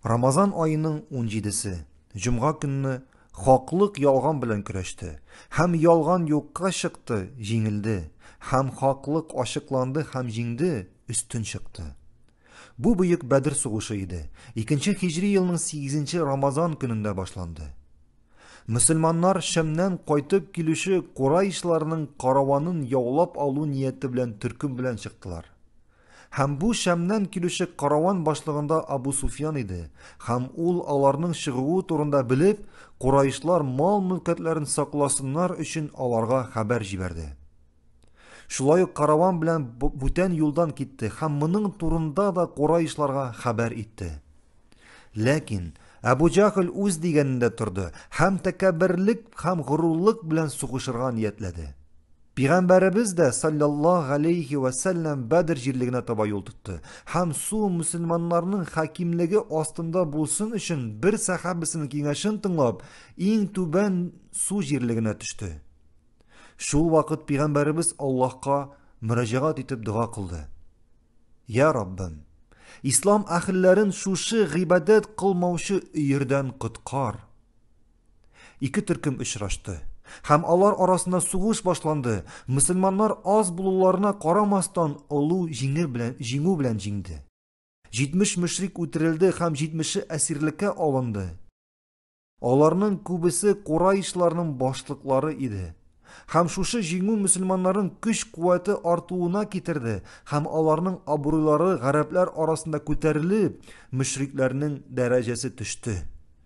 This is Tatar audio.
Рамазан аеның 17-се, җомга көнне хаклык ялган белән көрәште, һәм ялган юкка чыкты, җиңелде, һәм хаклык ачыкланды һәм җиңде, өстен чыкты. Бу бөек Бәдер сугышы иде, икенче хиҗри елның 8-нче Рамазан көнендә башланды. Мөселманнар Шәмнән кайтып килүче курайшларның караванын яулап алу нияте белән төркем белән чыктылар. Һәм бу Шәмнән килүче караван башлыгында Абу Суфьян иде, һәм ул, аларның чыгуы турында белеп, кураишлар мал-мөлкәтләрен сакласыннар өчен аларга хәбәр җибәрде. Шулай ук караван белән бүтән юлдан китте һәм моның турында да кураишларга хәбәр итте. Ләкин Әбу Җахл үз дигәнендә торды һәм тәкәбберлек һәм горурлык белән сугышырга ниятләде. Пигамбәребез дә, салләллаһу галәйһи вә сәлләм, Бәдер җирлегенә таба юл тотты һәм су мөселманнарның хакимлеге астында булсын өчен бер сәхабәсенең киңәшен тыңлап, иң түбән су җирлегенә төште. Шул вакыт пигамбәребез Аллаһка мөрәҗәгать итеп дога кылды. Я Раббым, ислам әхелләрен шушы гыйбадәт кылмаучы өердән коткар. Ике төркем очрашты. Һәм алар арасында сугыш башланды. Мөселманнар аз булуларына карамастан олу җиңел белән җиңү белән җиңде. 70 мөшрик үтерелде һәм 70-е әсирлеккә алынды. Аларның күбесе кураишларның башлыклары иде. Һәм шушы җиңү мөселманнарның көч-куәте артуына китерде һәм аларның абруйлары гарәпләр арасында күтәрелеп, мөшрикләрнең дәрәҗәсе төште.